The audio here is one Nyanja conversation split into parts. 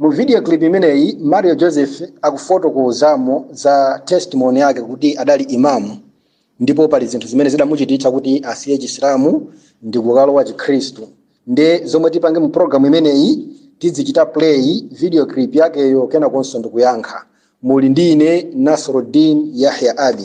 Mu video clip imeneyi, Mario Joseph akufotokozamo za testimony yake kuti adali Imam ndipo pali zinthu zimene zidamuchititsa kuti asiye Chisilamu ndi kukalowa Chikhristu. Nde zomwe tipange mu program imeneyi tidzichita play video clip yakeyo kenakonso ndikuyankha. Muli ndi ine Nasruddin Yahya Ali.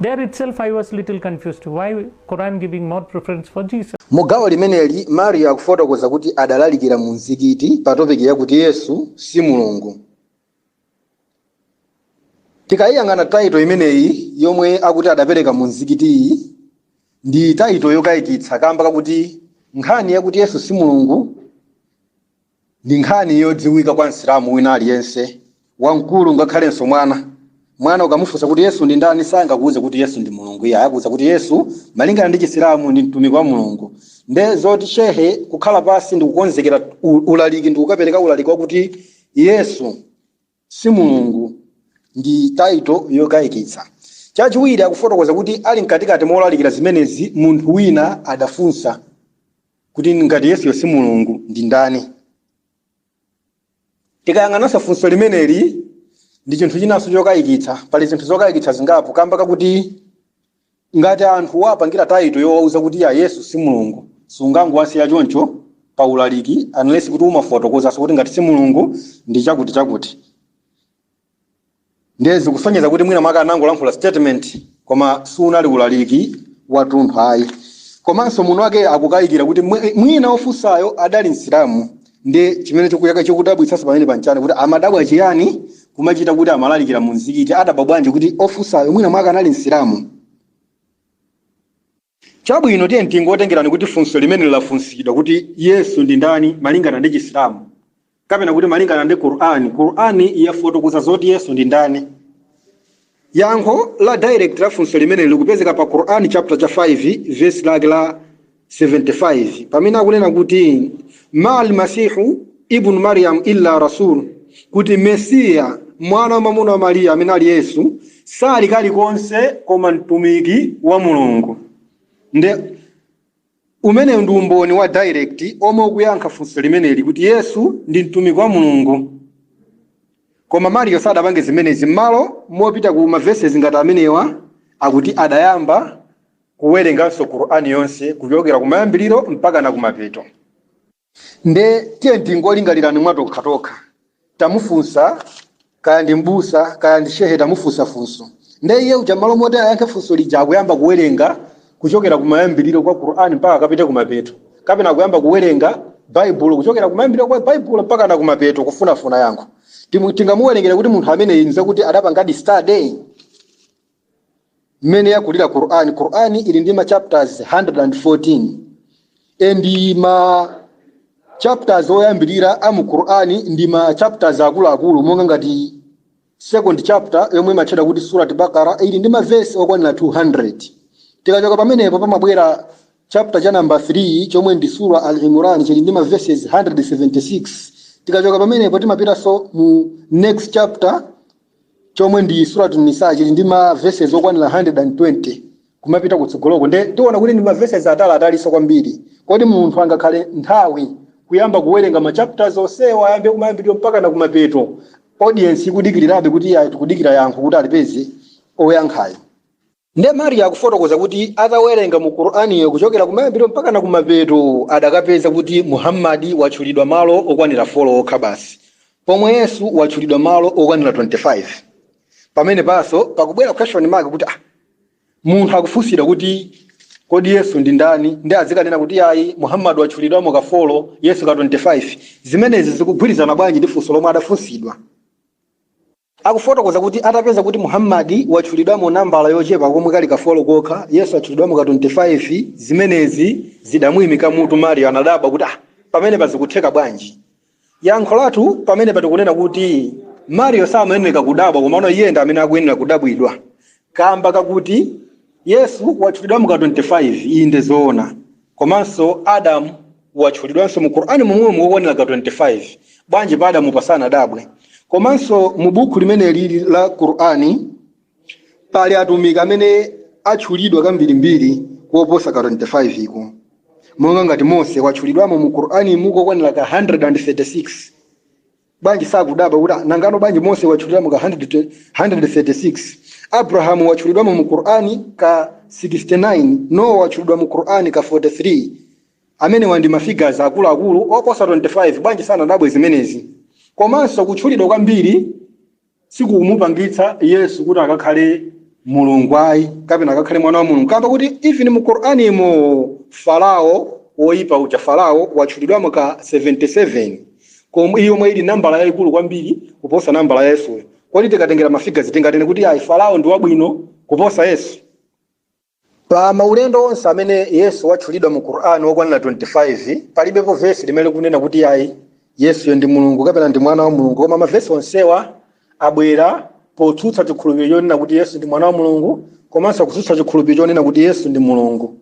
There itself I was little confused. Why Quran giving more preference for Jesus? Mu gawo limeneli, Mario akufotokoza kuti adalalikira mu mzikiti pa topiki yakuti Yesu si Mulungu. Tikayiyang'ana taito imeneyi yomwe akuti adapereka mu mzikitiyi ndi taito yokayikitsa kamba kakuti nkhani yakuti Yesu si Mulungu Ndi nkhani yodziwika kwa Msilamu wina aliyense, wamkulu ngakhalenso mwana. Mwana ukamufunsa kuti Yesu ndi ndani sangakuuze kuti Yesu ndi Mulungu iyayi, akuuza kuti Yesu malingana ndi Chisilamu ndi Mtumiki wa Mulungu. Nde zoti Shehe kukhala pansi ndikukonzekera ulaliki ndikukapereka ulaliki wakuti Yesu. si Mulungu. Ndi title yokaikitsa. Chachiwiri, akufotokoza kuti ali mkatikati molalikira zimenezi, munthu wina adafunsa kuti ngati Yesuyo si Mulungu, ndi ndani? Tikayang'ananso funso limeneli, ndi chinthu chinanso chokaikitsa. Pali zinthu zokaikitsa zingapo kamba kakuti Ngati anthu wapangira title yowauza kuti ya Yesu si Mulungu, sungangowasiya choncho pa ulaliki unless kuti umafotokozanso kuti ngati si Mulungu ndi chakuti chakuti. Ndiye zikusonyeza kuti mwina mwake anangolankhula statement koma sunali ulaliki watunthu ayi. Komanso muno wakeyo akukayikira kuti mwi- mwina ofunsayo adali Msilamu. ndi chimene chikuya- chikudabwitsanso pamene pa n'chani kuti amadabwa chiyani kumachita kuti amalalikira mu mzikiti adabwa bwanji kuti ofunsayo mwina mwake anali msilamu chabwino tiye tingotengerani kuti funso limeneli lafunsidwa kuti yesu ndi ndani malingana ndi chisilamu kapena kuti malingana ndi qur'ani qur'ani yafotokoza zoti yesu ndi ndani Yankho la direct la funso limeneli likupezeka pa Quran chapter cha 5 verse lake la 75 pamene akunena kuti Mal masihu ibn Maryam illa rasul kuti Mesiya mwana wamwamuna wa Mariya amene ali Yesu sali kalikonse koma mtumiki wa Mulungu nde Umenewu ndi umboni wa direct omwe ukuyankha funso limeneli kuti Yesu ndi mtumiki wa Mulungu. Koma Mario sadapange zimenezi mmalo mopita ku ma verses ngati amenewa akuti adayamba kuwerenganso Qur'an yonse kuchokera kumayambiliro mpakana kumapeto. Nde tiyeni tingolingalirani mwa tokha tokha. Tamufunsa kaya ndi m'busa kaya ndi shehe tamufunsa funso. Nde iye uja m'malo moti ayankhe funso lija akuyamba kuwerenga kuchokera kumayambiriro kwa Qur'an mpaka akapite kumapeto. Kapena akuyamba kuwerenga Baibulo kuchokera kumayambiriro kwa Baibulo mpakana kumapeto kufunafuna yankho. Timu- Tingamuwerengere kuti munthu ameneyi nzakuti adapangadi study? mmene yakulira Qur'an Qur'an ili ndi ma chapters 114 endi ma chapters oyambirira a mu Qur'an ndi ma chapters akuluakulu monga ngati second chapter yomwe imatchedwa kuti Surat Bakara ili ndi mavesi okwanira 200 tikachoka pamenepo pamabwera chapter cha namba 3 chomwe ndi Sura Al-Imran chili ndi mavesi 176 tikachoka pamenepo timapitanso mu next chapter chomwe ndi Suratu Nisa chili ndi ma verses okwanira 120 kumapita kutsogoloko nde tikuona kuti ndi ma verses atali atalinso kwambiri kodi munthu angakhale nthawi kuyamba kuwerenga ma chapters onsewa ayambe kumayambiriro mpaka na kumapeto audience ikudikirirabe kuti ayi tikudikira yankho kuti alipeze oyankhayo Nde Mario akufotokoza kuti atawerenga mu Quraniyo kuchokera kumayambiro mpakana kumapeto adakapeza kuti Muhammad watchulidwa malo okwanira 4 okha basi pomwe Yesu watchulidwa malo okwanira 25. Pamenepanso pakubwera question mark kuti ah, munthu akufunsidwa kuti kodi Yesu ndi ndani nde azikanena kuti ayi Muhammad watchulidwamo ka 4 Yesu ka 25. Zimenezi zikugwirizana bwanji ndi funso lomwe adafunsidwa? akufotokoza kuti atapeza kuti Muhammad watchulidwamo nambala yochepa komwe kali ka 4 kokha, Yesu watchulidwamo ka 25, zimenezi zidamuimika mutu Mario anadabwa kuti ah, pamenepa zikutheka bwanji? Yankho lathu pamenepa tikunena kuti Mario samayenereka kudabwa komano iye ndi amene akuyenera kudabwidwa kamba kakuti Yesu watchulidwamo ka 25 inde zoona komanso Adam watchulidwanso mu Qur'an momwemo kokwanira ka 25, bwanji pa Adamupa sanadabwe? Komanso mu bukhu limeneli la Qur'an pali atumiki amene atchulidwa kambirimbiri koposa ka 25 ko, monga ngati Mose watchulidwamo mu Qur'animu kokwanira ka 136, Bwanji sakudabwa kuti a, nangano bwanji Mose watchulidwamo ka 100 te- 136, Abrahamu watchulidwamo mu Qur'an ka 69, Noah watchulidwa mu Qur'an ka 43. Amenewa ndi ma figures akuluakulu oposa 25. Bwanji sanadabwe zimenezi? Komanso kutchulidwa kwambiri sikukumupangitsa Yesu kuti akakhale Mulungu ayi kapena akakhale mwana wa Mulungu kamba koti even mu Qur'animo Farao woyipa uja Farao watchulidwamo ka 77 komwe yomwe ili nambala yayikulu kwambiri kuposa nambala ya Yesuyo kodi tikatengera ma figures tinganene kuti ayi Farao ndi wabwino kuposa Yesu Pa maulendo onse amene Yesu watchulidwa mu Qur'an okwanira 25, palibepo vesi limene likunena kuti iyayi, Yesuyo ndi Mulungu kapena ndi Mwana wa Mulungu, koma mavesi onsewa abwera potsutsa chikhulupiriro chonena kuti Yesu ndi Mwana wa Mulungu komanso kutsutsa chikhulupiriro chonena kuti Yesu ndi Mulungu.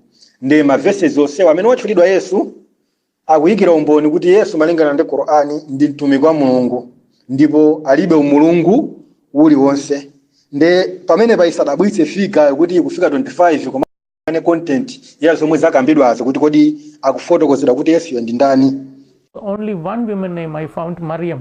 Ndipo ma verses onsewa amene watchulidwa Yesu, Akuyikira umboni kuti Yesu malingana ndi Qur'an ndi Mtumiki wa Mulungu ndipo alibe umulungu uliwonse. Nde pamenepa isadabwitse figure yo kuti ikufika 25 koma aone content ya zomwe zakambidwazo kuti kodi akufotokozedwa kuti Yesuyo ndi ndani. Only one woman name I found Maryam.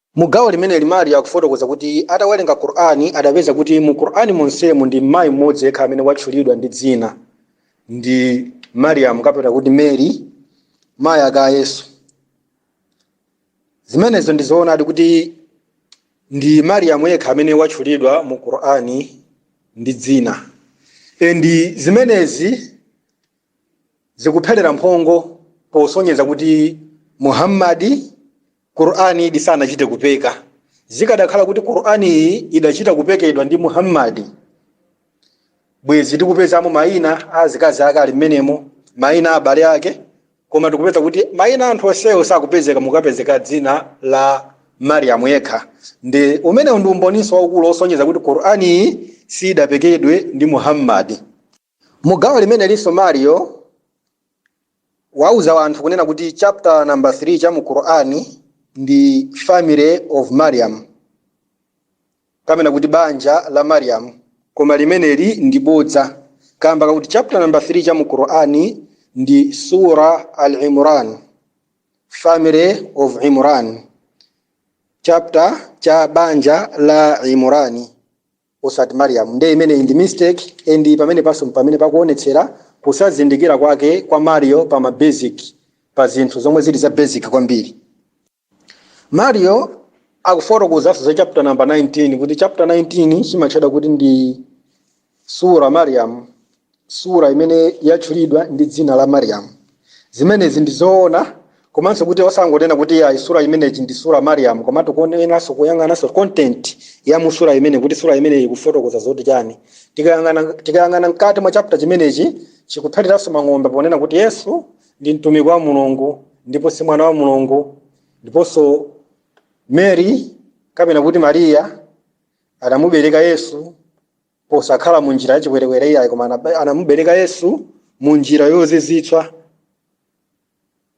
Mu gawo limeneli Mario akufotokoza kuti atawerenga Qur'an adapeza kuti mu Qur'an monsemu ndi mmayi mmodzi yekha amene watchulidwa ndi dzina ndi Mariam kapena kuti Mary mayi ake a Yesu. Zimenezo ndi zoonadi kuti ndi Mariam yekha amene watchulidwa mu Qur'an ndi dzina. And zimenezi zikuphelera mphongo posonyeza kuti Muhammad Qur'an iyi sanachite kupeka zikadakhala kuti Qur'an iyi idachita kupekedwa ndi Muhammad bwezi tikupezamo maina a azikazi ake ali mmenemo maina a abale ake koma tikupeza kuti maina a anthu onsewo sakupezeka mukapezeka dzina la Mariam yekha ndi umenewu ndi umboninso waukulu osonyeza kuti Qur'an iyi sidapekedwe ndi Muhammad Mu gawo limenelinso Mario wauza anthu kunena kuti chapter number 3 cha mu Qur'an ndi Family of Mariam kapena kuti banja la Mariam koma limeneli ndi bodza kamba kakuti chapter number 3 cha mu Qur'an ndi Sura al-Imran Family of Imran chapter cha banja la Imran osati Mariam nde imeneyi ndi mistake and pamenepanso mpamene pakuonetsera kusazindikira kwake kwa Mario pa ma basic pa zinthu zomwe zili za basic kwambiri Mario akufotokozanso za chapter number 19 kuti chapter 19 chimatchedwa kuti ndi Surah Mariam Surah imene yatchulidwa ndi dzina la Mariam. Zimenezi ndi zoona, komanso kuti osangonena kuti iyayi Surah imeneyi ndi Surah Mariam, komatu kuoneranso kuyang'ananso content ya mu Surah imeneyi kuti Surah imeneyi ikufotokoza zoti chani. Tikayang'ana tikayang'ana mkati mwa chapter chimenechi chikuphatiranso mang'ombe ponena kuti Yesu ndi mtumiki wa Mulungu ndipo si mwana wa Mulungu, ndiponso Mary kapena kuti Maria adamubereka Yesu posakhala mu njira yachiwerewere iyayi koma anaba- anamubereka yesu mu njira yozizitswa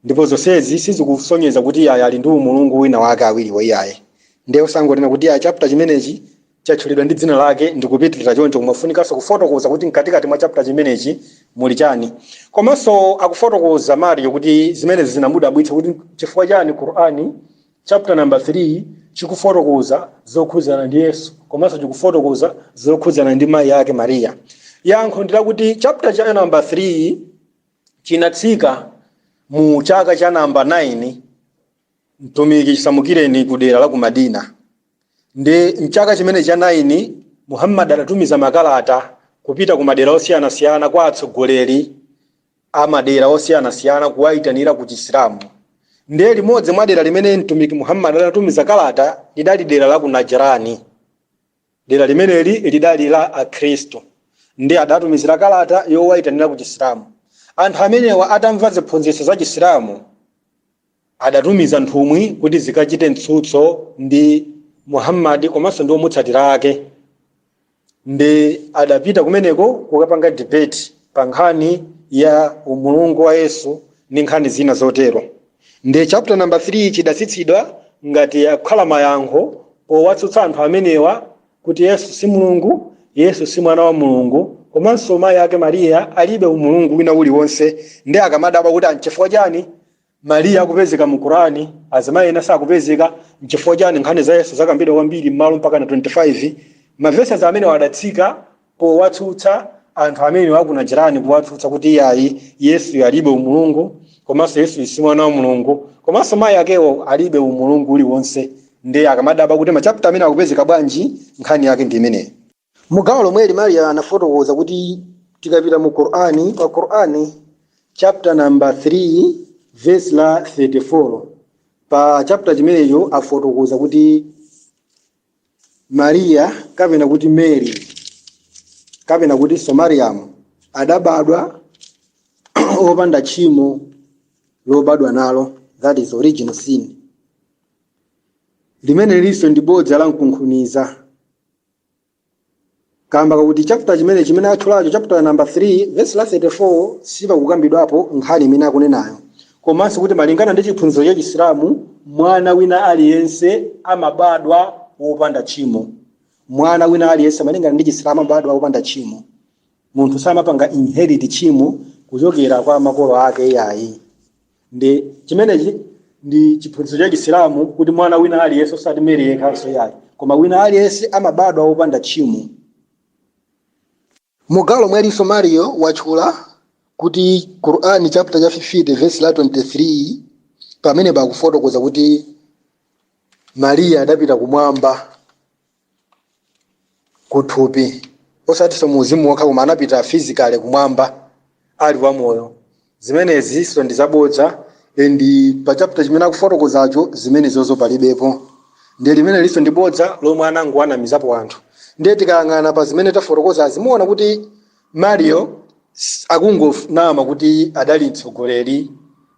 ndipo zonsezi sizikusonyeza kuti iyayi ali ndi umulungu wina wake awiriwo iyayi ndiye osangonena kuti iyayi chapter chimenechi chatchulidwa ndi dzina lake ndikupitirira choncho kumafunikanso kufotokoza kuti mkatikati mwa chapter chimenechi muli chani komanso akufotokoza mario kuti zimenezi zinamudabwitsa kuti chifukwa chani qur'ani Chapter number 3 chikufotokoza zokhudzana ndi Yesu komanso chikufotokoza zokhudzana ndi mayi ake Mariya. Yankho ndi lakuti chapter cha number 3 chinatsika mu chaka cha namba 9 mtumiki chisamukireni ku dera la ku Madina. Ndi mchaka chimene cha 9 Muhammad adatumiza makalata kupita ku madera osiyanasiyana kwa atsogoleri a madera osiyanasiyana kuwaitanira ku Chisilamu. Ndiye limodzi mwa dera limene Mtumiki Muhammad adatumiza kalata lidali dera la ku Najran. Dera limeneli lidali la Akhristu. Ndiye adatumizira kalata yowaitanira ku Chisilamu. Anthu amenewa atamva ziphunzitso za Chisilamu. adatumiza nthumwi kuti zikachite mtsutso ndi Muhammad komanso ndi omutsatira ake ndi adapita kumeneko kukapanga debate pa nkhani ya umulungu wa Yesu ndi nkhani zina zotero ndi chapter number 3 chidatsitsidwa ngati kukhala mayankho powatsutsa anthu amenewa kuti Yesu si Mulungu Yesu si mwana wa Mulungu komanso mayi ake Mariya alibe umulungu wina uliwonse ndiye akamadabwa kuti anchifukwa chani Mariya akupezeka mu Quran, azimayi ena sakupezeka, nchifukwa chani nkhani za Yesu zakambidwa kwambiri mmalo mpakana 25? Ma verses amenewa adatsika powatsutsa anthu amenewa aku Najran powatsutsa kuti iyayi Yesuyo alibe umulungu komanso Yesuyo si mwana wa Mulungu komanso mayi akewo alibe umulungu uliwonse nde akamadabwa kuti ma chapter amenewa akupezeka bwanji nkhani yake ndi imeneyi. Mu gawo lomweli Mario anafotokoza kuti tikapita mu Qur'an, pa Qur'an chapter number 3 verse la 34 pa chapter chimenecho afotokoza kuti Maria kapena kuti Mary kapena kuti so Mariamu adabadwa opanda tchimo lobadwa nalo that is original sin limene ilinso ndi bodza la mkunkhuniza Kaamba kakuti chaputa chimenechi chimene atchulacho, chaputa namba 3, vesi la 34, sipakukambidwapo nkhani imene akunenayo, komanso kuti malingana ndi chiphunzitso cha Chisilamu, mwana wina aliyense amabadwa wopanda tchimo. Mwana wina aliyense malingana ndi Chisilamu amabadwa wopanda tchimo. Munthu samapanga inherit tchimo kuchokera kwa makolo ake iyayi. ndi chimenechi ndi chiphunzitso cha chisilamu kuti mwana wina aliyense osati meri yekhanso iyayi koma wina aliyense amabadwa wopanda tchimo mu gawo lomwelinso mario watchula kuti qur'ani chapter cha 50 verse la 23 pamene pakufotokoza kuti mariya adapita kumwamba kuthupi, osatinso mu uzimu wokha, koma anapita physically kumwamba ali wamoyo. Zimenezinso ndi zabodza and pa chapter chimene akufotokozacho zimenezozo palibepo. Ndiye limenelinso ndi bodza lomwe anangowanamizapo anthu. Ndiye tikayang'ana pa zimene tafotokozazi muona kuti Mario s- akungonama kuti adali mtsogoleri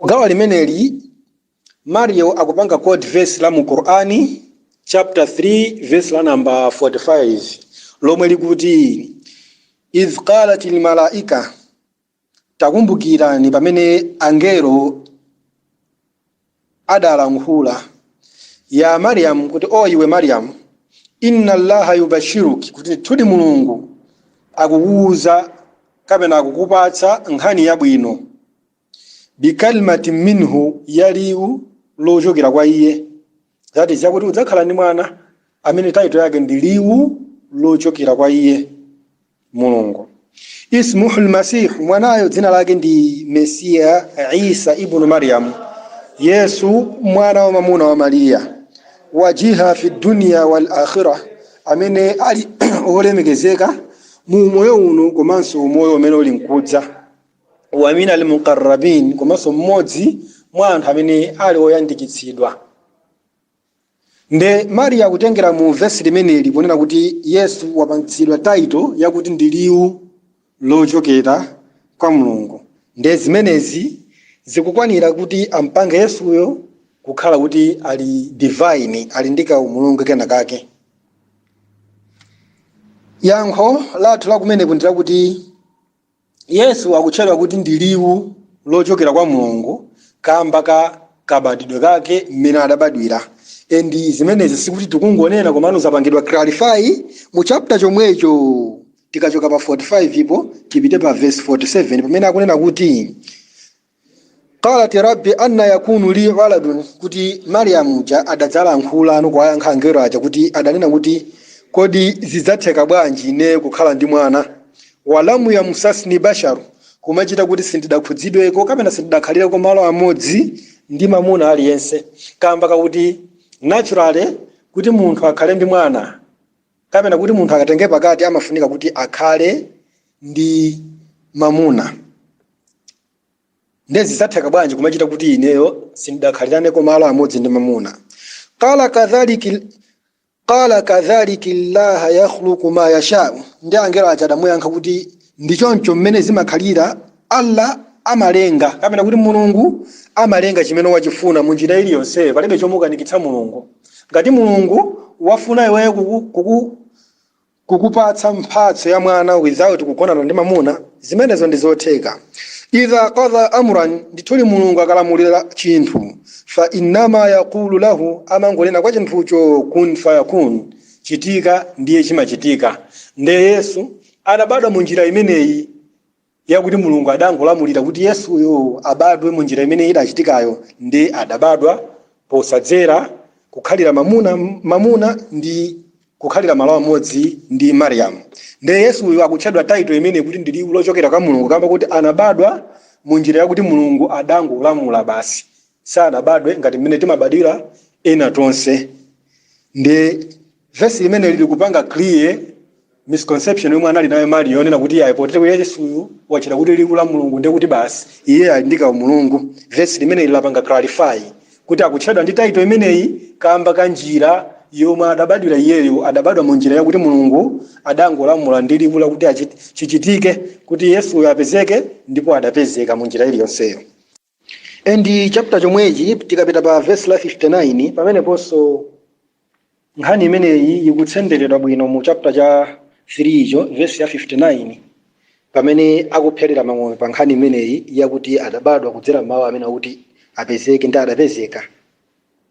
Mu gawo limeneli, Mario akupanga quote verse la mu Qur'an chapter 3 verse la number 45 lomwe likuti idh qalatil malaika takumbukirani pamene angelo adalankhula ya Mariam kuti o iwe Mariam inna allaha yubashiruki kuti ndithudi Mulungu akukuuza kapena akukupatsa nkhani yabwino bikalimatin minhu ya liwu lochokera kwa iye that is yakuti udzakhala ndi mwana amene title yake ndi liwu lochokera kwa iye mulungu ismuhu lmasihu mwanayo dzina lake ndi mesiya isa ibnu maryamu yesu mwana wa mamuna wa mariya wajiha fi dunya wal akhira amene ali olemekezeka mu umoyo uno komanso umoyo umene uli nkudza wa min almuqarrabin komanso mmodzi mwa anthu amene ali oyandikitsidwa nde mario akutengera mu vesi limeneli kunena kuti yesu wapangitsidwa title yakuti ndi liwu lochokera kwa mulungu nde zimenezi zikukwanira kuti ampange yesuyo kukhala kuti ali divine ali ndi kaumulungu kena kake yankho lathu lakumeneko ndi lakuti Yesu akutchedwa kuti ndi liwu lochokera kwa Mulungu kamba ka kabadwidwe kake mmene adabadwira and zimenezi sikuti tikungonena komano zapangidwa clarify mu chapter chomwecho tikachoka pa 45 po tipite pa verse 47 pamene akunena kuti qalat rabbi anna yakunu li waladun kuti mariyamu uja adadzalankhulano kuwayankha angelo aja kuti adanena kuti kodi zidzatheka bwanji ine kukhala ndi mwana walam yamsasni basharu kumachita kuti sindidakhudzidweko kapena sindidakhalireko malo amodzi ndi mamuna aliyense kamba kakuti naturally kuti munthu akhale ndi mwana Kapena kuti, munthu akatenge pakati amafunika kuti akhale ndi mamuna. Nde zidzatheka bwanji kumachita kuti ineyo sindidakhaliraneko malo amodzi ndi mamuna? Qala kadhaliki llahu yakhluqu ma yashau, ndiye angelo aja adamuyankha kuti Ndi choncho mmene zimakhalira, Allah amalenga kapena kuti Mulungu amalenga chimene wachifuna mu njira iliyonseyo, palibe chomukanikitsa Mulungu. Ngati Mulungu wafuna iweyo kuku, kuku, kukupatsa mphatso ya mwana without kugonana ndi mamuna, zimenezo ndi zotheka. Idha qadha amran, ndithudi Mulungu akalamulira chinthu, fa innama yaqulu lahu, amangonena kwa chinthucho, kun fayakun, chitika, ndiye chimachitika. Nde Yesu Anabadwa mu njira imeneyi yakuti Mulungu adangolamulira kuti Yesuyo abadwe mu njira imene idachitikayo ndi adabadwa posadzera, kukhalira mamuna, mamuna ndi kukhalira malo amodzi ndi Mariam. Nde Yesuyo akutchedwa title imeneyi kuti ndi liwu lochokera kwa Mulungu kamba kakuti anabadwa mu njira yakuti Mulungu adangolamula basi. Sanabadwe ngati mmene timabadwira ena tonse. Nde. Verse limeneli likupanga clear misconception yomwe anali nayo Mario yonena kuti ayi potere kuti Yesuyu watchedwa kuti liwu la Mulungu ndiye kuti basi iye ali ndi kaumulungu. Verse limeneli lapanga clarify kuti akutchedwa ndi title imeneyi kamba ka njira yomwe adabadwira iyeyo adabadwa mu njira yakuti Mulungu adangolamula ndi liwu lakuti achit- chichitike kuti Yesuyo apezeke ndipo adapezeka mu njira iliyonseyo. and chapter chomwechi tikapita pa verse la 59 pameneponso nkhani imeneyi ikutsenderedwa bwino mu chapter cha 3 cho verse ya 59 pamene akupherera mang'ombe pa nkhani imeneyi yakuti adabadwa kudzera m'mawu amene akuti apezeke ndi adapezeka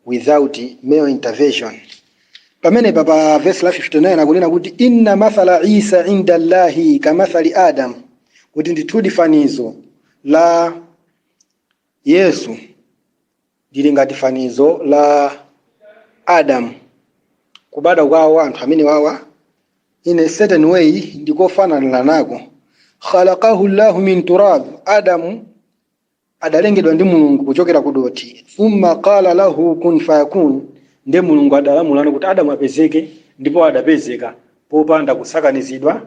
without male intervention pamenepa pa vesi la 59 akunena kuti inna mathala isa inda llahi kamathali adam kuti ndithudi fanizo la yesu lili ngati fanizo la adamu kubadwa kwawo anthu amenewawa in a certain way ndikofananiranako khalaqahu llahu min turab adamu adalengedwa ndi Mulungu kuchokera ku dothi, thumma qala lahu kun fayakun, nde Mulungu adalamulano kuti Adamu apezeke ndipo adapezeka popanda kusakanizidwa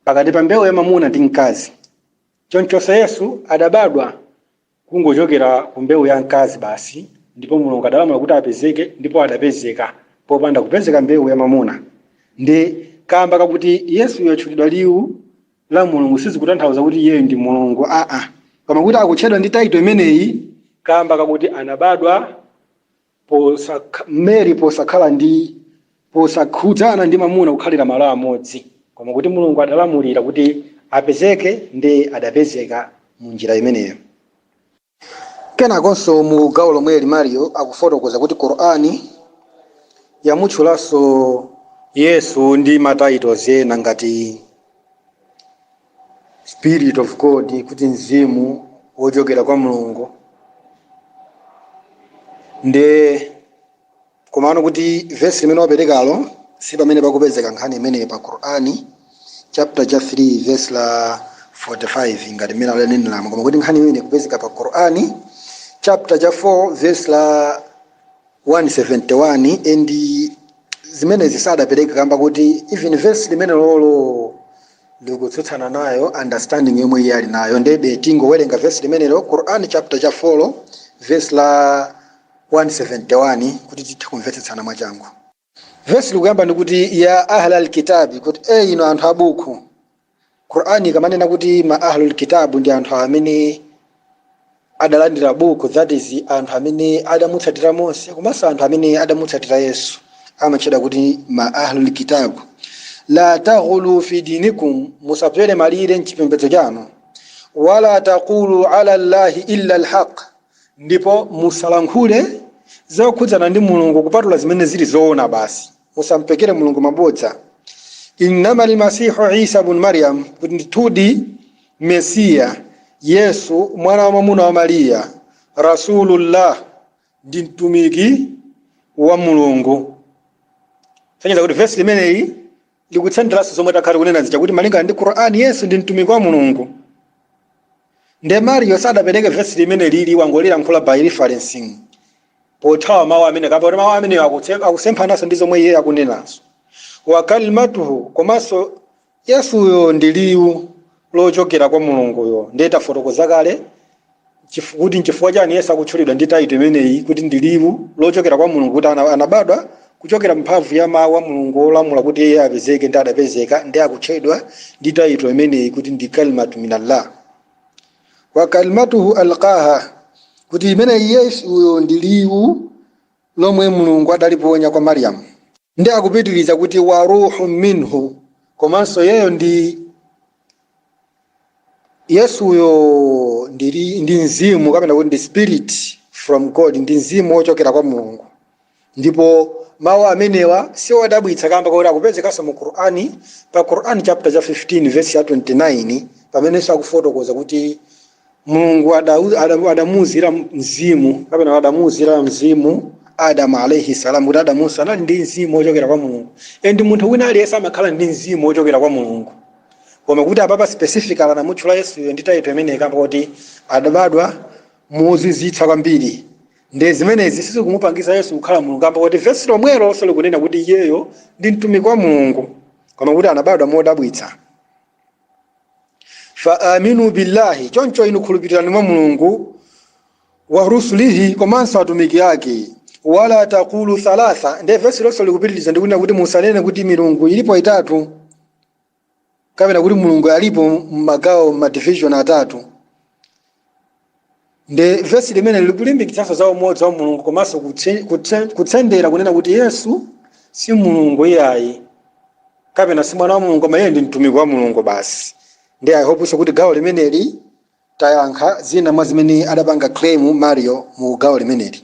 pakati pa mbewu ya mamuna ndi mkazi. Chonchonso Yesu adabadwa kungochokera ku mbewu ya mkazi basi ndipo Mulungu adalamula kuti apezeke ndipo adapezeka popanda kupezeka mbewu ya mamuna. Nde kamba kakuti Yesuyu atchulidwa liwu la Mulungu sizikutanthauza kuti iyeyo ndi Mulungu aa, koma kuti akutchedwa ndi title imeneyi kamba kakuti anabadwa posakha, Mary posakhala ndi posakhudzana ndi mamuna kukhalira malo amodzi, koma kuti Mulungu adalamulira kuti apezeke nde adapezeka mu njira imeneyo. Kenakonso mu gawo lomweli Mario akufotokoza kuti Qur'an yamutchulanso Yesu ndi ma titles ena ngati Spirit of God kuti Mzimu wochokera kwa Mulungu nde Komano kuti vesi limene waperekalo si pamene pakupezeka nkhani imeneyi pa Qur'ani chapter cha 3 vesi la 45 ngati mmene alanenelamo koma kuti nkhani imeneyi ikupezeka pa Qur'ani chapter cha 4 vesi la 171 and zimenezi sadapereke kamba kuti even vesi limenelolo likutsutsana nayo understanding yomwe iye ali nayo ndebe tingowerenga vesi limenelo Qur'ani chapter cha 4 vesi la 171 kuti tithe kumvetsetsana mwachangu. Vesi likuyamba ndi kuti Ya ahlal kitabi kuti e inu anthu a buku. Qur'an ikamanena kuti ma ahlul kitab ndi anthu amene adalandira buku that is anthu amene adamutsatira Mose komanso anthu amene adamutsatira Yesu amatchedwa kuti ma ahlul kitab. La taghlu fi dinikum musabzole malire m'chipembedzo chanu. Wala taqulu ala Allahi illa alhaq Ndipo musalankhule zokhudzana ndi Mulungu kupatula zimene zili zoona basi. Musampekere Mulungu mabodza. Innamal masihu Isa bnu Maryam, kuti ndithudi Mesiya, Yesu, mwana wamwamuna wa Mariya, Rasulullah, ndi mtumiki wa Mulungu. Kusonyeza kuti vesi limeneli Likutsenderanso zomwe takhala tikunena zija kuti malingana ndi Qur'an Yesu ndi mtumiki wa Mulungu. Nde Mario sadapereke verse limenelili wangolilankhula by referencing pothawa mawu amenewa kamba kuti mawu amenewo akutse- akusemphananso ndi zomwe iye akunenazo. Wa kalimatuhu komanso Yesuyo ndi liwu lochokera kwa Mulunguyo. Ndiye tafotokoza kale Chifu- kuti nchifukwa chani yesu akutchulidwa ndi title imeneyi kuti ndi liwu lochokera kwa mulungu kuti ana- anabadwa kuchokera mphamvu ya mawu a mulungu olamula kuti iye apezeke nde adapezeka nde akutchedwa ndi title imeneyi kuti ndi kalimatu minallah wa kalimatuhu alqaha kuti imeneyi yesuyo ndi liwu lomwe mulungu adaliponya kwa mariyamu nde akupitiriza kuti wa ruhu minhu komanso iyeyo ndi Yesuyo ndi, li- ndi mzimu kapena kuti ndi spirit from God, ndi mzimu wochokera kwa Mulungu. Ndipo mawu amenewa si odabwitsa kamba kakuti akupezekanso mu Qur'ani pa Qur'an chapter cha 15 verse ya 29 pamenenso akufotokoza kuti mulungu adau- ada- adamuuzira mzimu kapena kuti adamuuzira mzimu adamu alaihi salam kuti adamunso anali ndi mzimu wochokera kwa mulungu and munthu wina aliyense amakhala ndi mzimu wochokera kwa mulungu koma kuti apapa specific anamutchula yesuyo ndi title imeneyi kamba kuti adabadwa mozizwitsa kwambiri nde zimenezi sizikumupangitsa yesu kukhala mulungu kamba kuti vesi lomwelo lonse likunena kuti iyeyo ndi mtumiki wa mulungu koma kuti anabadwa modabwitsa fa aminu billahi choncho inu khulupirirani mwa mulungu wa rusulihi komanso atumiki ake wala takulu thalatha ndiye vesi lonse likupitiriza ndikunena kuti musanene kuti milungu ilipo itatu kapena kuti mulungu alipo mmagawo mmadivision atatu nde vesi limeneli likulimbikitsanso za umodzi wa mulungu komanso kutse- kutse- kutsendera kunena kuti yesu si mulungu iyayi kapena si mwana wa mulungu koma iye ndi mtumiki wa mulungu basi ndi i hope so kuti gawo limeneli tayankha zina mwa zimene adapanga claim mario mu gawo limeneli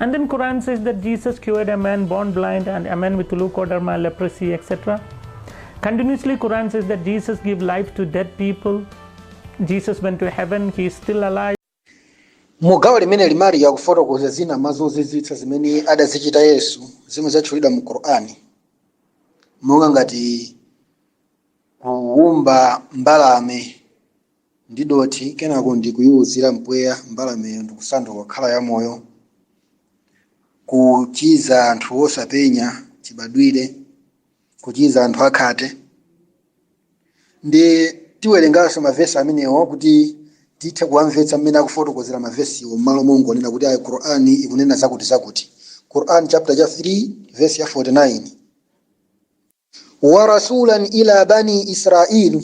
And then Quran says that Jesus cured a man born blind and a man with leukoderma, leprosy, etc. Continuously Quran says that Jesus gave life to dead people. Jesus went to heaven, he is still alive. mu gawo limeneli Mario akufotokoza zina mwa zozizwitsa zimene adazichita yesu zimwe zatchulidwa mu qur'ani monga ngati kuwumba mbalame ndi dothi kenako ndi kuyiwuzira mpweya mbalameyo ndikusanduka kukhala yamoyo. Kuchiza anthu osapenya chibadwire, kuchiza anthu akhate. Ndi tiwerenganso mavesi amenewo kuti tithe kuwamvetsa mmene akufotokozera mavesiwo m'malo mongonena kuti ayi Qur'ani ikunena zakuti zakuti. Qur'an chapter cha 3 verse ya 49. wa rasulan ila bani israil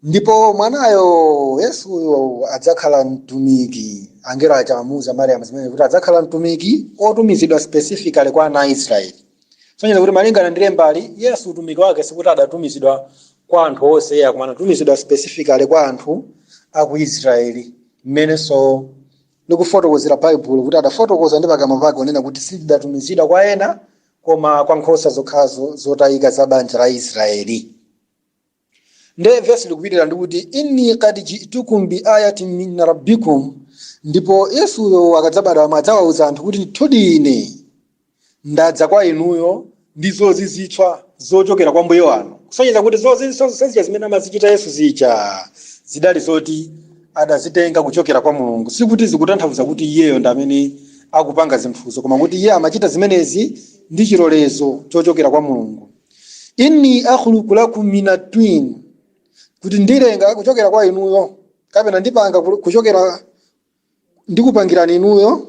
ndipo mwanayo yesuyo adzakhala mtumiki angelo aja amamuuza mariamu zimenezi kuti adzakhala mtumiki otumizidwa specifically kwa ana a israeli sonyeza kuti malingana ndi lembali yesu utumiki wake sikuti adatumizidwa kwa anthu onse iyayi koma anatumizidwa specifically kwa anthu a ku israeli mmenenso likufotokozera baibulo kuti adafotokoza ndi pakamwa pake kunena kuti sindidatumizidwe kwa ena koma kwa nkhosa zokhazo zotayika za banja la israeli nde vesi likupitirira ndikuti inni qad jitukum bi ayatin min rabbikum ndipo yesuyo akadzabadwa amadzawauza anthu kuti ndithudi ine ndadza kwa inuyo ndi zozizwitsa zochokera kwa mbuye wanu kusonyeza kuti zozizwitsa zija zimene amazichita yesu zija zidali zoti adazitenga kuchokera kwa Mulungu. Sikuti zikutanthauza kuti iyeyo ndi amene akupanga zinthuzo, koma kuti iye amachita zimenezi ndi chilolezo chochokera kwa Mulungu. Inni akhluqu lakum minat-tin, kuti ndilenga kuchokera kwa inuyo, kapena ndipanga kuchokera ndikupangirani inuyo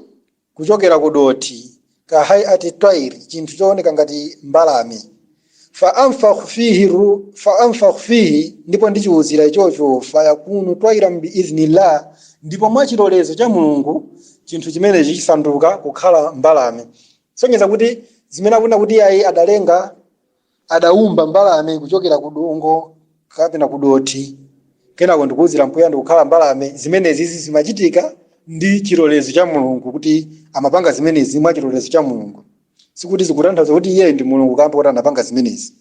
kuchokera ku dothi, ka hay'ati twayr, chinthu chooneka ngati mbalame, fa anfukhu fihi, ndipo ndichiuzira ichocho, fa yakunu twayran bi idhnillah, ndipo mwa chilolezo cha Mulungu chinthu chimenecho chisanduka kukhala mbalame. Sonyeza kuti zimene akunena kuti iyayi adalenga. adaumba mbalame kuchokera ku dongo kapena ku dothi kenako ndikuuzira mpweya ndikukhala mbalame. Zimenezi zimachitika ndi chilolezo cha Mulungu kuti amapanga zimenezi mwa chilolezo cha Mulungu. Sikuti zikutanthauza kuti iyeyo ndi Mulungu kamba kuti anapanga zimenezi.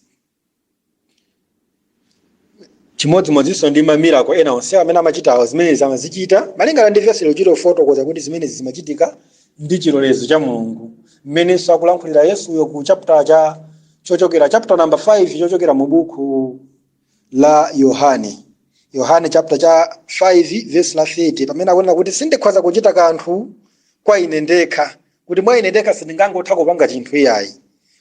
Chimodzimodzinso ndi ma miracle ena onsewa amene amachitawo, zimenezi amazichita malingana ndi vesi likuchita kufotokoza kuti zimenezi zimachitika ndi chilolezo cha Mulungu. Mmenenso akulankhulira Yesuyo ku chapter number 5 chochokera mu buku la Yohane chapter cha 5 vesi la 30 pamene akunena kuti sindikhoza kuchita kanthu kwa ine ndekha kuti mwa ine ndekha sindingangotha kupanga chinthu iyayi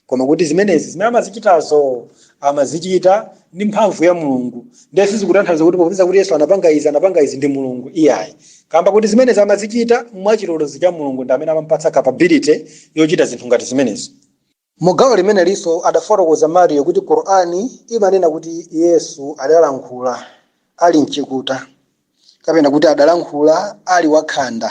koma kuti zimenezi zimene amazichitazo amazichita ndi mphamvu ya mulungu ndiye sizikutanthauza kuti popeza kuti yesu anapanga izi anapanga izi ndi mulungu iyayi kamba kuti zimenezi amazichita mwachilolezo cha mulungu ndi amene amampatsa capability yochita zinthu ngati zimenezi Mu gawo limenelinso adafotokoza Mario kuti Qur'an imanena kuti Yesu adalankhula ali mchikuta kapena kuti adalankhula ali wakhanda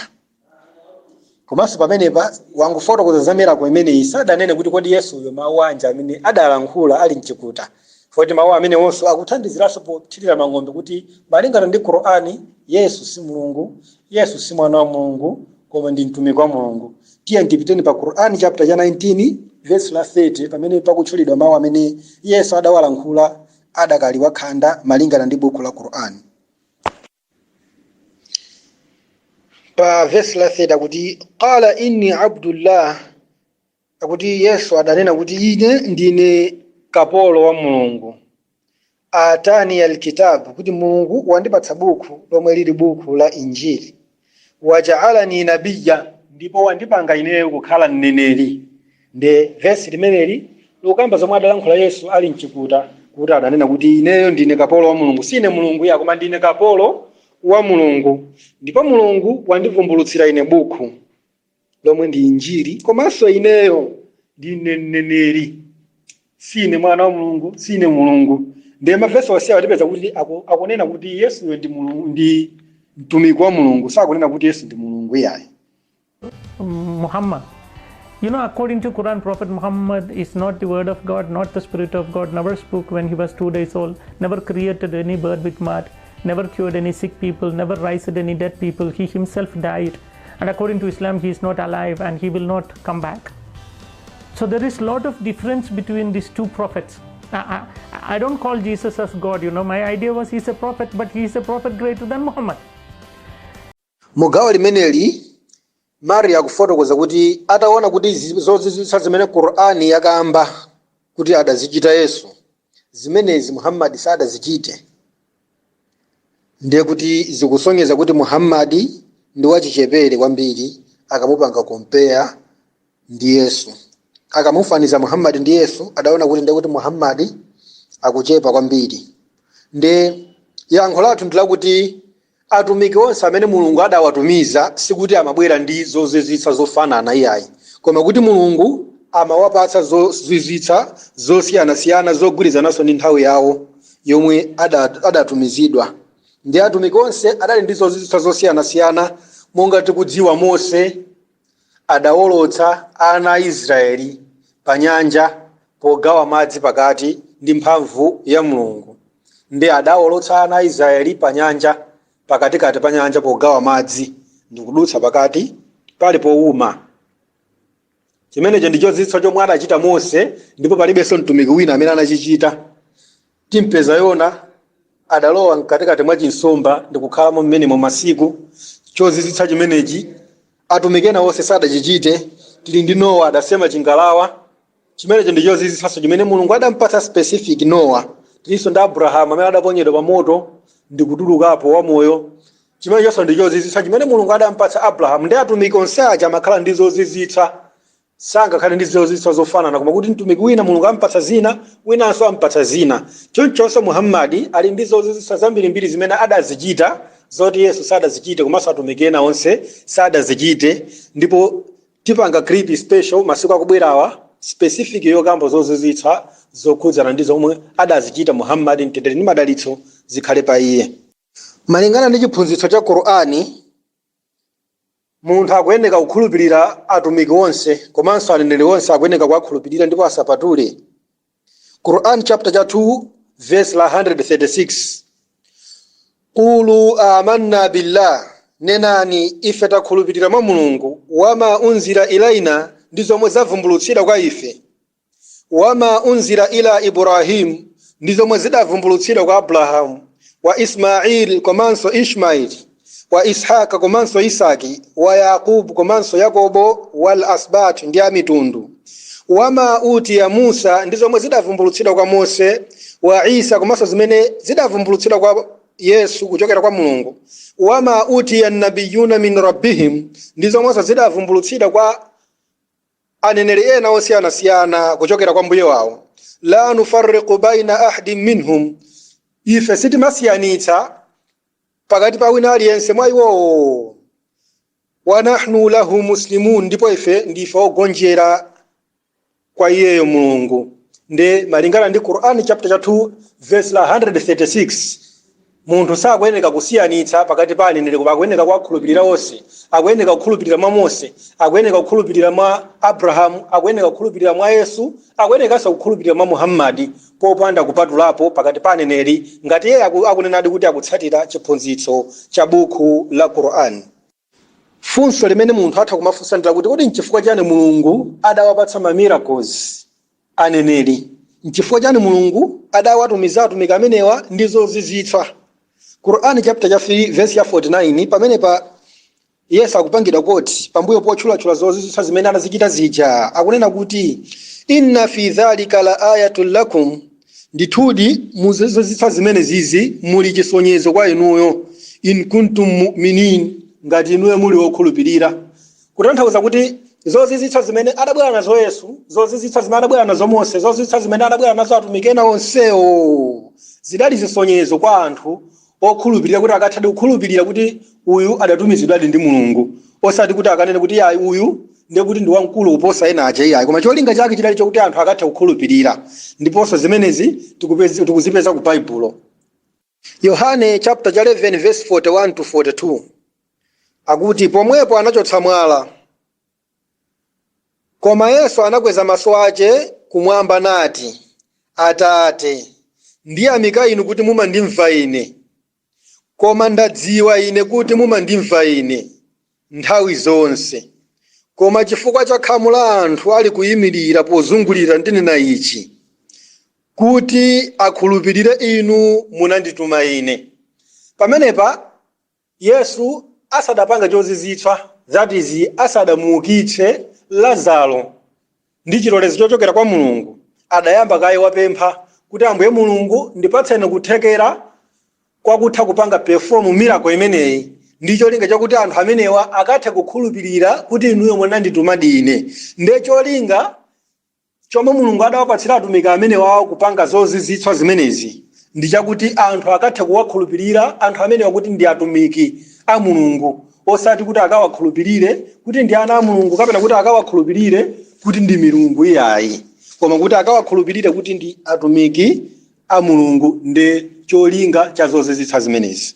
komanso pamenepa wangofotokoza za miracle imeneyi sadanene kuti kodi Yesuyo mawu anji amene adalankhula ali mchikuta poti mawu amenewonso akuthandiziranso pothirira mang'ombe kuti malingana ndi Qur'an Yesu si Mulungu, Yesu si mwana wa Mulungu koma ndi mtumiki wa Mulungu. Tiyeni tipiteni pa Qur'an chapter cha 19 verse la 30 pamene pakutchulidwa mawu amene Yesu adawalankhula adakali wakhanda malingana ndi buku la Qur'an. Pa verse la 30 akuti qala inni abdullah akuti Yesu adanena kuti ine ndine kapolo wa Mulungu. atani alkitabu kuti mulungu wandipatsa buku lomwe lili buku la injili wajaalani nabiya ndipo wandipanga ineyo kukhala mneneri nde vesi limeneli likukamba zomwe adalankhula yesu ali mchikuta kuti adanena kuti ineyo ndine kapolo wa mulungu sine mulungu iyayi koma ndine kapolo wa mulungu ndipo mulungu wandivumbulutsira ine buku lomwe ndi injili komanso ineyo ndine mneneri sine mwana wa mulungu sine mulungu ndiye mavesi onse atipeza kuti aku- akunena kuti yesuyo ndi mulungu ndi mtumiki wa mulungu sakunena kuti yesu ndi mulungu iyayi Muhammad. According to Quran, Prophet Muhammad is not the word of God, not the spirit of God, never spoke when he was two days old, never created any bird with mud, never cured any sick people, never raised any dead people. He himself died. And according to Islam, he is not alive and he will not come back. So there is a lot of difference between these two prophets. I, I, I don't call Jesus as God, you know. My idea was he's a prophet, but he's a prophet greater than Muhammad. Mugawa limeneli Mari akufotokoza kuti ataona kuti zozizwitsa zimene Qur'ani yakamba kuti adazichita Yesu zimenezi Muhammad sadazichite ndiye kuti zikusonyeza kuti muhammadi ndi wachichepere kwambiri akamupanga compare ndi yesu akamufaniza muhammadi ndi yesu adaona kuti ndiye kuti muhammadi akuchepa kwambiri nde yankho lathu ndi lakuti atumiki onse amene mulungu adawatumiza sikuti amabwera ndi zozizwitsa zofanana iyayi koma kuti mulungu amawapatsa zozizwitsa zosiyanasiyana zogwirizananso ndi nthawi yawo yomwe adatumizidwa ndiye atumiki onse adali ndi zozizwitsa zosiyanasiyana monga tikudziwa mose adawolotsa ana a israeli pa nyanja pogawa madzi pakati ndi mphamvu ya mulungu ndiye adawolotsa ana a israeli pa nyanja pakatikati pa nyanja pogawa madzi ndikudutsa pakati pali powuma chimenecho ndi chozizwitsa chomwe adachita mose ndipo palibenso mtumiki wina amene anachichita timpeza yona adalowa mkatikati mwa chinsomba ndikukhalamo mmenemo masiku chozizwitsa chimenechi atumiki ena onse sadachichite tili ndi nowa adasema chingalawa chimenecho ndi chozizwitsanso chimene mulungu adampatsa specific nowa tilinso ndi abrahamu amene adaponyedwa pa moto ndikutulukapo wamoyo Chimenechonso ndi chozizwitsa chimene Mulungu adampatsa Abrahamu ndiye atumiki onse aja amakhala ndi zozizwitsa. Sangakhale ndi zozizwitsa zofanana koma kuti mtumiki wina Mulungu ampatsa zina, winanso ampatsa zina. Chonchonso Muhammadi ali ndi zozizwitsa zambirimbiri zimene adazichita zoti Yesu sadazichite komanso atumiki ena onse sadazichite ndipo tipanga clip special masiku akubwerawa specific yokamba zozizwitsa zokhudzana ndi zomwe adazichita Muhammadi, mtendere ndi madalitso zikhale pa iye. Malingana ndi chiphunzitso cha Qur'an, munthu akuyeneka kukhulupilira atumiki onse komanso aneneri onse akuyeneka kuwakhulupilira ndipo asapatule. Qur'an chapter cha 2 verse la 136. Qulu amanna billah, nenani ife takhulupilira mwa Mulungu, wama unzila ilaina, ndi zomwe zavumbulutsidwa kwa ife. wama unzila ila Ibrahim, ndi zomwe zidavumbulutsidwa kwa Abrahamu, wa Ismail komanso Ishmail, wa Ishaq komanso Isaki, wa Yaqub komanso Yakobo, wal asbat ndi amitundu, wama utiya Musa, ndi zomwe zidavumbulutsidwa kwa Mose, wa Isa komanso zimene zidavumbulutsidwa kwa Yesu kuchokera kwa Mulungu, wama utiya nabiyuna min rabbihim, ndi zomwenso zidavumbulutsidwa kwa aneneri ena osiyanasiyana kuchokera kwa mbuye wawo la nufarriqu baina ahadin minhum ife sitimasiyanitsa pakati pa wina aliyense mwa iwowo wa nahnu lahu muslimun ndipo ife ndife ogonjera kwa iyeyo mulungu nde malingana ndi qur'ani chapter cha 2 verse la 136 Munthu sakuyeneka kusiyanitsa pakati pa aneneri koma akuyeneka kuwakhulupilira onse. Akuyeneka kukhulupilira mwa Mose, akuyeneka kukhulupilira mwa Abrahamu, akuyeneka kukhulupilira mwa Yesu, akuyenekanso kukhulupilira mwa Muhammadi popanda kupatulapo pakati pa aneneri ngati iye akunenadi kuti akutsatira chiphunzitso cha Buku la Qur'an. Funso limene munthu atha kumafunsa ndi lakuti, kodi n'chifukwa chiyani Mulungu adawapatsa ma miracles aneneri? N'chifukwa chiyani Mulungu adawatumiza atumiki amenewa ndi zozizwitsa? Quran chapter cha 3 verse cha 49 pamenepa Yesu akupangidwa quote pambuyo potchulatchula zozizwitsa zimene anazichita zija, akunena kuti, Inna fi dhalika la ayatun lakum, Ndithudi mu zozizwitsa zimenezizi muli chisonyezo kwa inuyo, in kuntum mu'minin, ngati inuyo muli okhulupirira. Kutanthauza kuti zozizwitsa zimene adabwera nazo Yesu, zozizwitsa zimene adabwera nazo Mose, zozizwitsa zimene adabwera nazo atumiki ena onsewo zidali zisonyezo kwa anthu okhulupirira kuti akathadi kukhulupirira kuti uyu adatumizidwadi ndi mulungu osati kuti akanene kuti iyayi uyu ndiye kuti ndi wamkulu kuposa ena aja iyayi koma cholinga chake chidali chokuti anthu akathe kukhulupirira ndiponso zimenezi tikupezi- tikuzipeza ku baibulo yohane chapter cha 11 verse 41 to 42 akuti pomwepo anachotsa mwala Koma Yesu anakweza maso ace kumwamba nati, Atate, ndiyamika Inu kuti mumandimva Ine, koma ndadziwa ine kuti mumandimva Ine nthawi zonse, koma cifukwa ca khamu la anthu alikuimirira pozungulira ndinena ici, kuti akhulupirire Inu munandituma Ine. Pamenepa Yesu asadapange chozizwitsa, that is, asadamuukitse Lazaro ndi chilolezo chochokera kwa Mulungu, adayamba kaye wapempha kuti Ambuye Mulungu ndipatseni kuthekera kwa kutha kupanga perform miracle imeneyi ndi cholinga chakuti anthu amenewa akathe kukhulupirira kuti inuyo munanditumadi ine. Nde cholinga Chomwe Mulungu adawapatsira Atumiki amenewawa kupanga zozizwitsa zimenezi ndi chakuti anthu akathe kuwakhulupilira anthu amenewa kuti ndi Atumiki a Mulungu osati kuti akawakhulupilire kuti ndi ana a Mulungu kapena kuti akawakhulupilire kuti ndi milungu iyayi koma kuti akawakhulupilire kuti ndi Atumiki a Mulungu nde cholinga cha zozizwitsa zimenezi.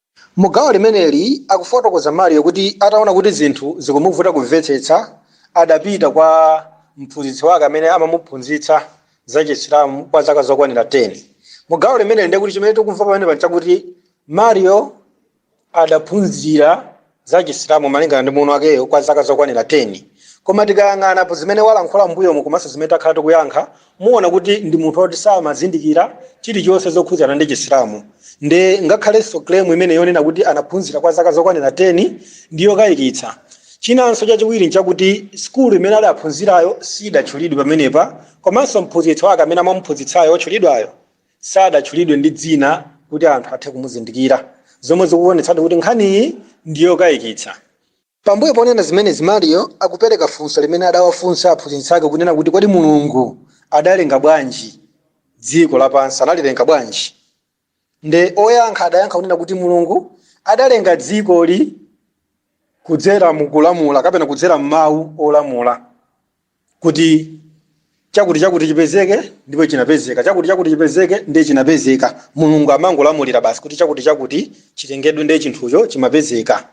Mu gawo limeneli akufotokoza Mario kuti ataona kuti zinthu zikumuvuta kumvetsetsa adapita kwa mphunzitsi wake amene amamuphunzitsa za Chisilamu kwa zaka zokwanira 10. Mu gawo limeneli ndiye kuti chimene tikumva pamenepa nchakuti Mario adaphunzira za Chisilamu malingana ndi muno wakeyo kwa zaka zokwanira 10. Koma tikayang'anapo zimene walankhula m'mbuyomu komanso zimene takhala tikuyankha, muona kuti ndi munthu oti samazindikira chilichonse zokhudzana ndi Chisilamu. Nde ngakhalenso claim imene yonena kuti anaphunzira kwa zaka zokwanira 10 ndi yokayikitsa. Chinanso chachiwiri nchakuti sukulu imene adaphunzirayo sidatchulidwe pamenepa komanso mphunzitsi wake amene amamuphunzitsayo otchulidwayo. sadatchulidwe ndi dzina kuti anthu athe kumuzindikira, zomwe zikuonetsadi kuti nkhaniyi ndi yokayikitsa. Pambuyo ponena zimenezi, Mario akupereka funso limene adawafunsa aphunzitsi ake kunena kuti kodi Mulungu adalenga bwanji dziko lapansi, analilenga bwanji? Nde oyankha adayankha kunena kuti Mulungu adalenga dzikoli kudzera mu kulamula kapena kudzera m'mawu olamula. kuti chakuti chakuti chipezeke ndipo chinapezeka chakuti chakuti chipezeke ndiye chinapezeka mulungu amangolamulira basi kuti chakuti chakuti chilengedwe ndiye chinthucho chimapezeka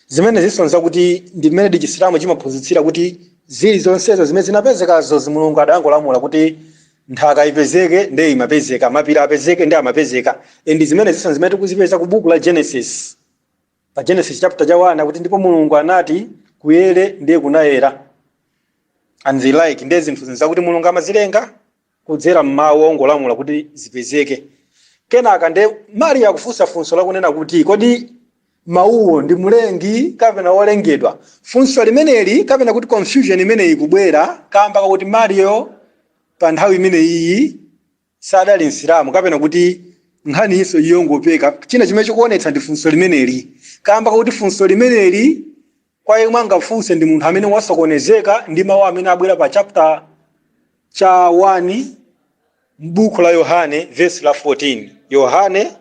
zimenezinso nzakuti ndi mmene chisilamu chimaphunzitsira kuti zinthu zonsezo zimene zinapezekazo mulungu adangolamula kuti nthaka ipezeke ndiye imapezeka mapiri apezeke ndiye amapezeka ndi zimenezinso zimene tikuzipeza ku buku la genesis pa Genesis chapter cha 1 akuti ndipo Mulungu anati kuyere ndiye kunayera and the like ndiye zinthu zinthu zakuti Mulungu amazilenga kudzera m'mawu ongolamula kuti zipezeke kenaka ndiye Mario akufunsa funso lakunena kuti kodi mawuwo ndi mlengi kapena wolengedwa funso limeneli kapena kuti confusion imeneyi ikubwera kamba kakuti Mario pa nthawi imeneyi sadali Msilamu kapena kuti nkhaniyinso ndi yongopeka. China chimene chikuonetsa ndi funso limeneli kaamba kakuti funso limeneli kwa yemwe angafunse ndi munthu amene wasokonezeka ndi mawu amene abwera pa chapter cha 1 m'bukhu la Yohane vesi la 14. Yohane.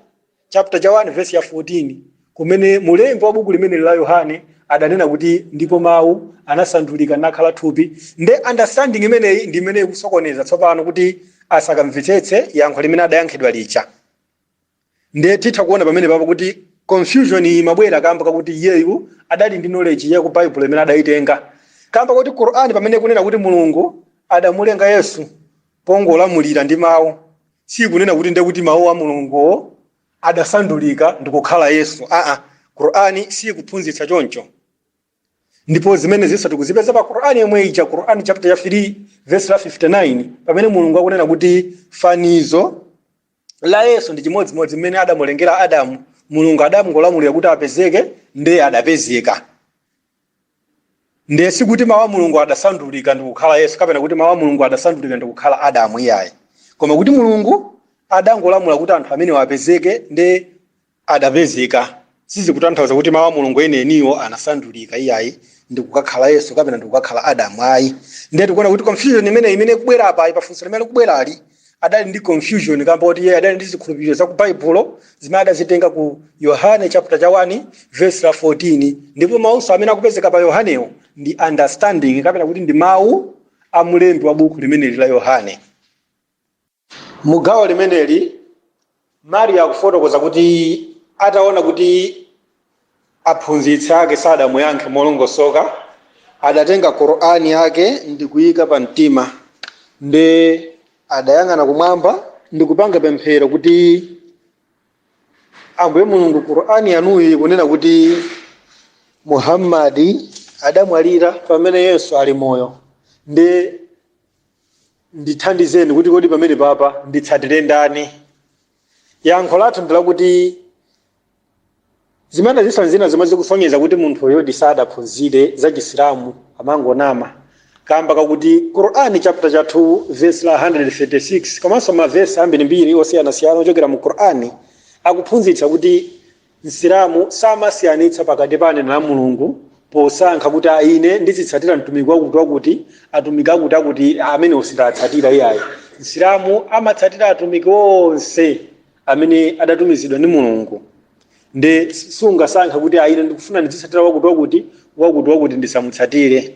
chapter cha 1 vesi ya 14 kumene mulembi wa buku limeneli la yohane adanena kuti ndipo mawu anasandulika nakhala thupi nde understanding imeneyi ndi imene ikusokoneza tsopano kuti asakamvetsetse yankho limene adayankhidwa lija nde titha kuona pamene papo kuti confusion imabwera kamba kakuti iyeyu adali ndi knowledge ya ku baibulo imene adayitenga kamba kuti qur'ani pamene ikunena kuti mulungu adamulenga yesu pongolamulira ndi mau siikunena kuti ndekuti mau a mulunguwo adasandulika ndikukhala yesu aa quran siikuphunzitsa choncho ndipo zimenezinso tikuzipeza pa quran yomwe ija quran chapter ya 3 verse la 59 pamene mulungu akunena kuti fanizo la yesu ndi chimodzimodzi mmene adamulengera adamu mulungu adangolamulira kuti apezeke ndiye adapezeka Ndiye sikuti mawu a Mulungu adasandulika ndikukhala Yesu kapena kuti mawu a Mulungu adasandulika ndikukhala Adamu iyayi. Koma kuti Mulungu adangolamula kuti anthu amenewa apezeke nde adapezeka. Sizikutanthauza kuti mawu a Mulungu enieniwo anasandulika iyayi ndikukakhala Yesu kapena ndikukakhala Adamu ayi. Ndiye tikuona kuti confusion imeneyi imene ikubwera apayi pafunso limene likubwerali adali ndi confusion kamba kuti iye adali ndi zikhulupiriro za ku baibulo zimene adazitenga ku yohane chapter cha 1 verse la 14 ndipo mawunso amene akupezeka pa yohanewo ndi understanding kapena kuti ndi mawu a mlembi wa buku limeneli la yohane mugawo limeneli Mario akufotokoza kuti, Ataona kuti aphunzitsi ake sadamuyankhe molongosoka, adatenga Qur'an yake ndikuiika pa mtima, nde adayang'ana kumwamba ndikupanga pemphero kuti, Ambuye Mulungu Qur'an yanuyi ikunena kuti Muhammad adamwalira pamene Yesu ali moyo, nde Ndithandizeni kuti kodi pamenepapa nditsatire ndani? Yankho lathu ndi lakuti zimenezinso nzina zomwe zikusonyeza kuti munthu uyudi sadaphunzire za Chisilamu amangonama kamba kakuti Qur'an chapter cha 2 verse la 136 komanso mavesi ambirimbiri osiyanasiyana ochokera mu Qur'an akuphunzitsa kuti Msilamu samasiyanitsa pakati pa aneneri a Mulungu posankha kuti a ine ndizitsatira mtumiki wakutiwakuti, atumiki akutiakuti amenewo sindiwatsatira iyayi. Msilamu amatsatira atumiki onse amene adatumizidwa ndi Mulungu. Nde sungasankhe kuti a ine ndikufuna ndidzitsatira wakutiwakuti, wakutiwakuti ndisamutsatire.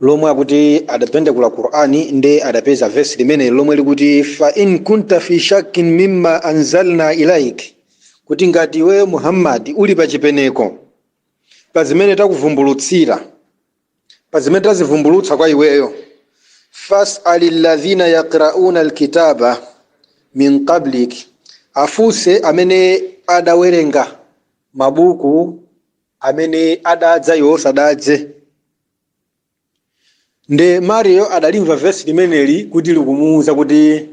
lomwe akuti adavundukula Qur'an nde adapeza verse limeneli lomwe likuti fa in kunta fi shakkin mimma anzalna ilaik kuti ngati iweyo Muhammad uli pa chipeneko pa zimene takuvumbulutsira pa zimene tazivumbulutsa kwa iweyo fas'al alladhina yaqra'una alkitaba min qablik afunse amene adawerenga mabuku amene adadza iwe usadadze nde mariyo adalimva vesi limeneli kuti likumuwuza kuti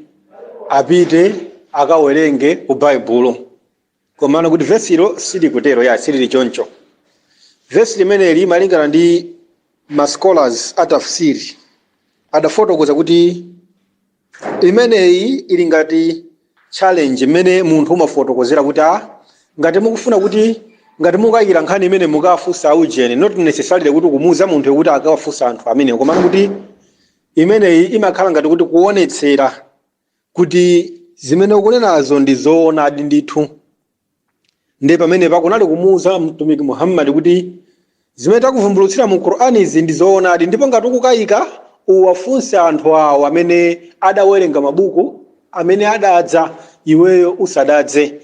apite akawerenge ku baibulo komano kuti vesilo silikutero ya silili choncho vesi limeneli malingana ndi ma scholars a tafsiri adafotokoza kuti Imeneyi ili ngati challenge mmene munthu umafotokozera kuti ah ngati mukufuna kuti ngati mukukayikira nkhani imeneyi mukawafunse a ujeni not necessarily kuti kumuuza munthu kuti akawafunse anthu amenewo komano kuti imeneyi imakhala ngati kuti kuonetsera kuti zimene ukunenazo ndi zoonadi ndithu ndiye pamenepa kunali kumuuza mtumiki muhammadi kuti zimene takuvumbulutsira mu qur'ani izi ndi zoonadi ndipo ngati ukukayika uwafunse anthu awo amene adawerenga mabuku amene adadza iweyo usadadze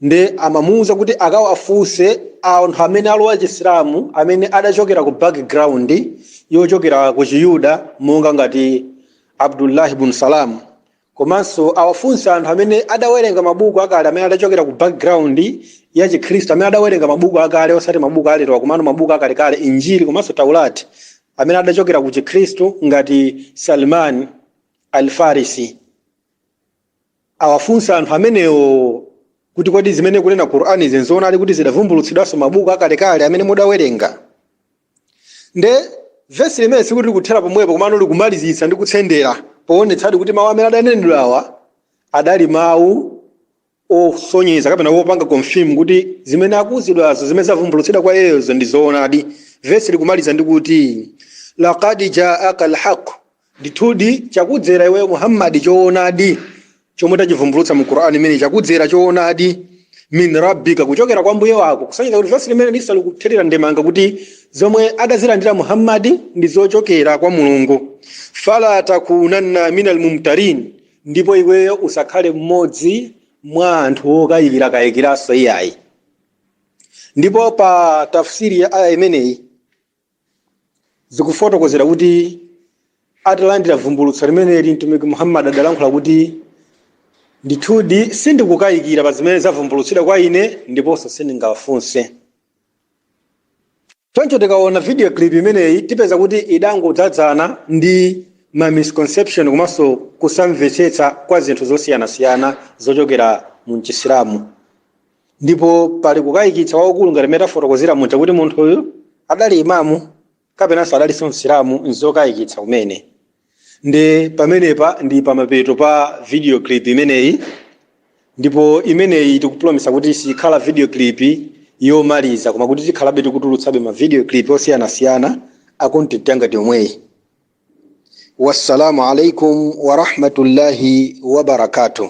nde amamuuza kuti akawafunse anthu amene alowa chisilamu amene adachokera ku background yochokera ku chiyuda monga ngati abdullahi bun salamu Komanso awafunse anthu amene adawerenga mabuku akale amene adachokera ku background ya Chikhristu, amene adawerenga mabuku akale osati mabuku alerowa komano mabuku akalekale, Injili komanso Taurat, amene adachokera ku Chikhristu ngati Salman Al-Farisi. Awafunse anthu amenewo kuti kodi zimene ikunena Qur'anizi n'zoonadi kuti zidavumbulutsidwanso m'mabuku akalekale amene mudawerenga? nde vesi limeneli sikuti likuthera pomwepo komano likumalizitsa ndi kutsendera poonetsadi kuti mawu amene adanenedwa awa adali mawu osonyeza kapena kupanga confirm kuti zimene akuuzidwazo zimene zavumbulutsidwa kwa iyeyozo ndi zoonadi vesi likumaliza ndi kuti laqad jaaka alhaq Ndithudi chakudzera iwe Muhammad choonadi chomwe tachivumbulutsa mu Qur'an imene chakudzera choonadi min rabbika kuchokera kwa mbuye wako kusonyeza kuti vesi limeneli lisali kuthirira ndemanga kuti zomwe adazilandira Muhammad ndi zochokera kwa Mulungu fala takunanna minal mumtarin ndipo iweyo usakhale mmodzi mwa anthu okayikira kayikiranso iyayi ndipo pa tafsiri ya aya imeneyi zikufotokozedwa kuti atalandira vumbulutso limeneli mtumiki muhammad adalankhula kuti ndithudi sindikukayikira pa zimene zavumbulutsidwa kwa ine ndiponso sindingawafunse choncho tikaona video clip imeneyi tipeza kuti idangodzadzana ndi ma misconception komanso kusamvetsetsa kwa zinthu zosiyanasiyana zochokera mu chisilamu ndipo pali kukayikitsa kwakukulu ngati mmene tafotokozera muja kuti munthuyu adali imamu kapenanso adalinso msilamu nzokayikitsa kumene nde pamenepa ndi pamapeto pa video clip imeneyi ndipo imeneyi tikupulomisa kuti sikhala video clip yomaliza koma kuti tikhalabe tikutulutsabe ma video clip osiyanasiyana a content yangati yomweyi wassalamu alaikum warahmatullahi wabarakatuh